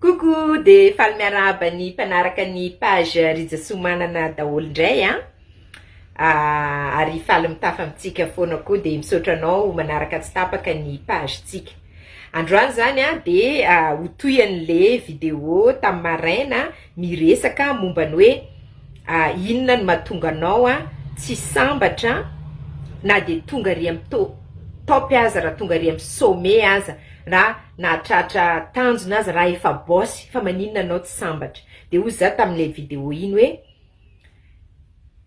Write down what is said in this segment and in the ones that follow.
Coucou de faly miarahaba ny mpanaraka ny page Rija Soamanana daholo indray an! Ah, ary faly mitafa amintsika foana koa dia misaotra anao manaraka tsy tapaka ny page tsika. Androany zany an dia ho toy an'le video tamin'ny maraina Miresaka momba ny hoe inona no mahatonga anao tsy sambatra na dia tonga ary amin'ny to top aza, raha tonga ary amin'ny sommet aza, raha nahatratra tanjona aza, raha efa boss fa maninona anao tsy sambatra? dia hoy za tamin'ilay video iny hoe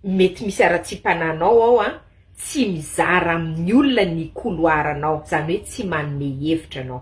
mety misy haratsiam-panahinao ao an, tsy mizara amin'ny olona ny couloir-nao, izany hoe tsy manome hevitra anao.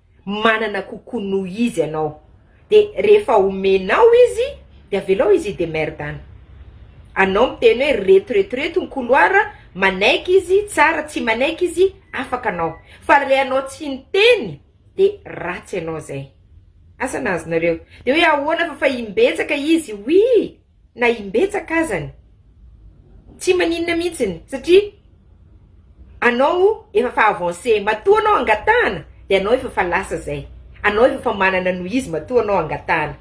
manana kokoa noho izy ianao de rehefa omenao izy de avelao izy hi-demerde-ny. Anao miteny hoe reto reto reto ny couloir, manaiky izy tsara, tsy manaiky izy afaka anao. Fa re anao tsy niteny de ratsy ianao zay. Asa nahazo nareo? De hoe ahoana fa fa imbetsaka izy oui! na imbetsaka azany tsy maninona mihitsiny satria anao efa fa avance matoa anao angatahana dia anao efa fa lasa zay anao efa fa manana noho izy matoa anao angatahana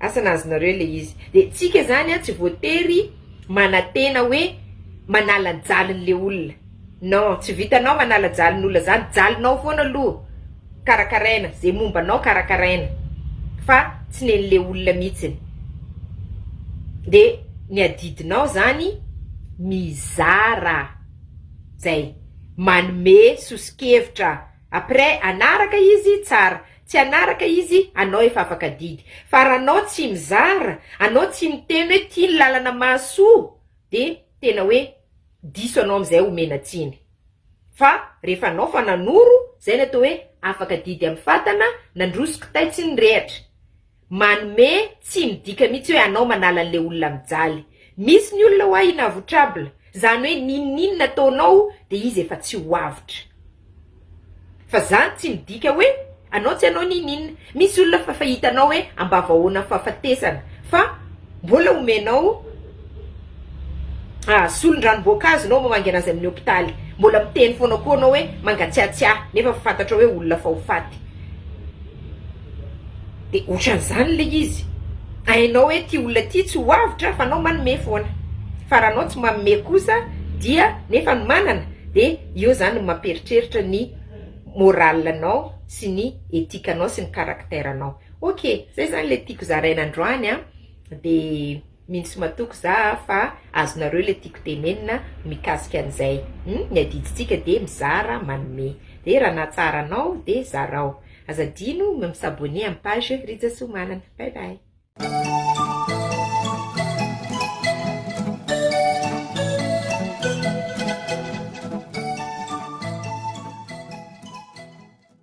asa na azonareo le izy de tsika zany a tsy voatery manantena hoe manala anjaliny le olona Non, tsy vitanao manala jalin'olona zany, jalinao foana aloha karakaraina, ze momba anao karakaraina fa tsy nen'le olona mitsiny, de ny adidinao zany mizara zay, manome soso-kevitra, après hanaraka izy tsara, tsy hanaraka izy anao efa afaka adidy, fa raha anao tsy mizara, anao tsy miteny hoe ty ny lalana mahasoa de tena hoe diso anao amizay omena tsiny fa rehefa anao fa nanoro zay ny atao hoe afaka didy am fatana nandroso kitay tsy ny rehatra manome tsiny dika mitsy hoe anao manala anle olona mijaly misy ny olona hoa inavoutrable zany hoe ninoninona ataonao de izy efa tsy ho avotra Fa zany tsy midika hoe anao tsy anao n'in'inona. Misy olona fa fa hitanao hoe ambava ahoana fahafatesana fa mbola omenao solon-dranom-boankazo enao mamaingana azy amin'ny hopitaly. Mbola miteny foana koa anao hoe mangatsiatsiahy nefa fa fantatrao hoe olona fa ho faty. de otran'zany le izy, hainao hoe ty olona ty tsy ho avotra fa anao manome foana, fa raha anao tsy manome kosa dia nefa ny manana de eo zany no mampieritreritra ny moral anao sy ny ethique anao sy ny caractère anao, ok zay zany le tiako zaraina androany an de. mintsy matoky za a fa azonareo le tiako tenenina mikasika an'izay hum ny adidintsika de mizara manome de raha nahatsara anao de zarao aza adino ny mi s'abonner amin'ny page Rija Soa Manana bye bye.